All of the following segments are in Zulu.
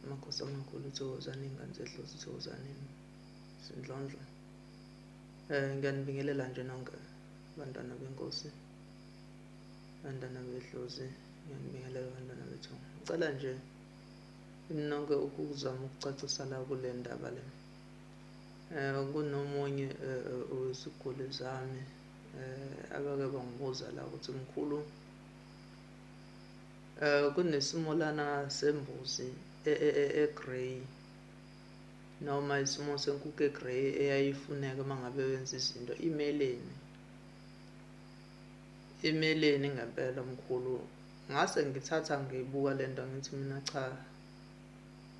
amakhosi amakhulu uthokozane ingane zedlozi uthokozane sindlondlo um eh, ngiyanibingelela nje nonke bantwana benkosi bantwana bedlozi ngiyanibingelela bantwana bethu ngicela nje nonke ukuzama ukucacisa la kule ndaba le um kunomunye eh, weziguli zami um abake bangibuza la ukuthi mkhulu Eh kunesimo lana sembuzi e, e, e, e grey noma isimo senkukhu e grey eyayifuneka mangabe wenza izinto imeleni imeleni ngempela mkhulu ngase ngithatha ngibuka lento ngithi mina cha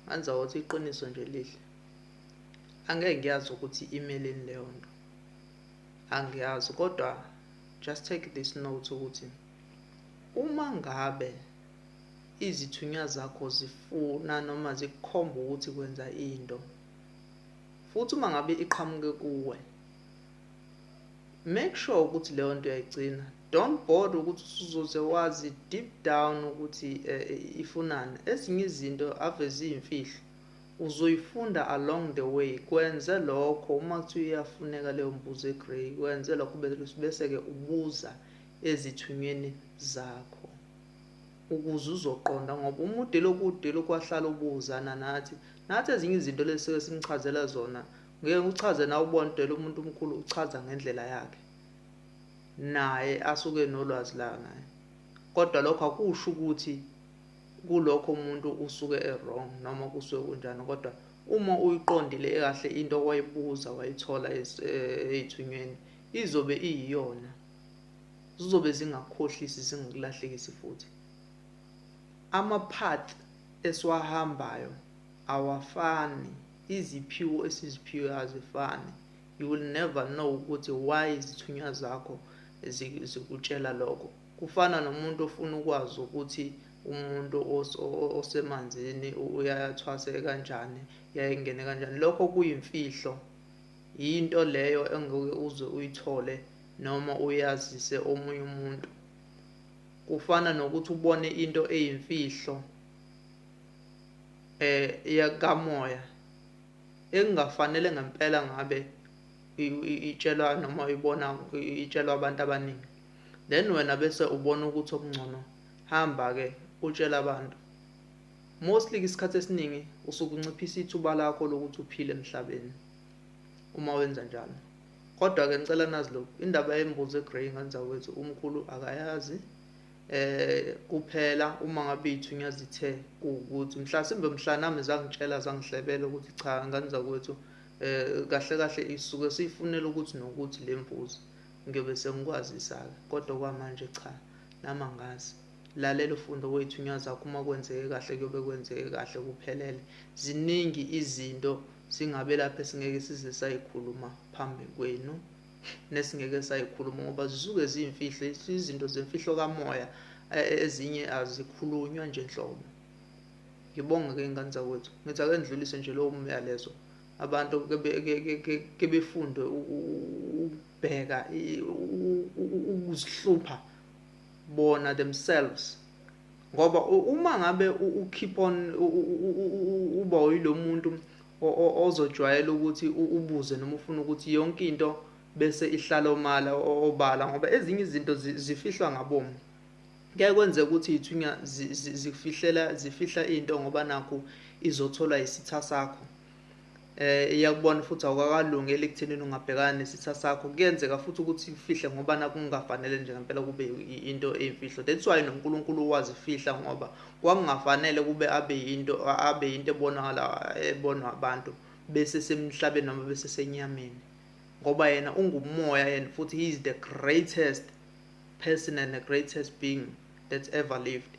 ngenza ukuthi iqiniso nje lihle angeke ngiyazi ukuthi imeleni leyo nto angiyazi kodwa just take this note ukuthi Uma ngabe izithunywa zakho zifuna noma zikukhomba ukuthi kwenza into, futhi uma ngabe iqhamuke kuwe, make sure ukuthi leyo nto uyayigcina don't bother ukuthi usuzoze wazi deep down ukuthi eh, eh, ifunani ezinye izinto ave ziyimfihlo uzoyifunda along the way kwenze lokho uma kuthiwa iyafuneka leyo mbuzo egrey kwenze lokho bese-ke ubuza ezithunyweni zakho ukuze uzoqonda ngoba uma ude lokhu ude lokhu wahlala ubuzana nathi nathi ezinye izinto lesike simchazela zona ngeke uchaze nawe ubondela umuntu omkhulu uchaza ngendlela yakhe naye asuke nolwazi la ngaye kodwa lokho akusho ukuthi kulokho umuntu usuke e-wrong noma kusuke kunjani kodwa uma uyiqondile kahle into owayibuza wayithola eh, ey'thunyweni izobe iyiyona zizobe zingakukhohlisi zingakulahlekisi futhi. Ama path esiwahambayo awafani, iziphiwo esiziphiwe azifani. You will never know ukuthi why izithunywa zakho zikutshela lokho. Kufana nomuntu ofuna ukwazi ukuthi umuntu osemanzini uyathwaseka kanjani yayengene kanjani lokho kuyimfihlo yinto leyo engeke uze uyithole noma uyazise omunye umuntu. Kufana nokuthi ubone into eyimfihlo eh yakamoya engafanele ngempela ngabe itshelwa noma uyibona itshelwa abantu abaningi then wena bese ubona ukuthi okungcono hamba ke utshela abantu mostly isikhathi esiningi usukunciphisa ithuba lakho lokuthi uphile emhlabeni uma wenza njalo Kodwa ke ngicela nazi lokhu indaba yembuzi egrey nganza wethu umkhulu akayazi eh kuphela uma ngabe iyithunyezi ithe ukuthi mhlasimbe mhla nami zangitshela zangihlebela ukuthi cha ngane zakwethu eh kahle kahle isuke siyifunela ukuthi nokuthi lemvuzo ngiyobe sengikwazisa-ke kodwa kwamanje cha nami angazi lalela ufunde wethunya zakho uma kwenzeke kahle kuyobe kwenzeke kahle kuphelele ziningi izinto Singabe lapho esingeke size sayikhuluma phambi kwenu nesingeke sayikhuluma ngoba zisuke ziyimfihlo izinto zemfihlo kamoya e, e, ezinye azikhulunywa nje nhlobo. Ngibonge ke ingane zakwethu. Ngithi ake ngidlulise nje lowo myalezo abantu ke befunde ukubheka ukuzihlupha bona themselves Ngoba uma ngabe u keep on uba uyilomuntu ozojwayela ukuthi ubuze noma ufuna ukuthi yonke into bese ihlala omala obala ngoba ezinye izinto zifihlwa ngabomu. Kuyaye kwenzeka ukuthi ithunya zikufihlela zifihla into ngoba nakhu izotholwa isitha sakho. eh iyakubona futhi awukakalungi elikuthenini ungabhekana nesitha sakho kuyenzeka futhi ukuthi ufihle ngoba nakungafanele nje ngempela kube into eyimfihlo that's why noNkulunkulu wazifihla ngoba kwakungafanele kube abe yinto abe yinto ebonakala ebonwa abantu bese semhlabeni noma bese senyameni ngoba yena ungumoya and futhi he is the greatest person and the greatest being that's ever lived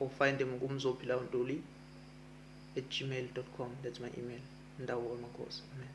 or find them kumzophilawontuli at gmail.com that's my email ndawo wamakhosi amen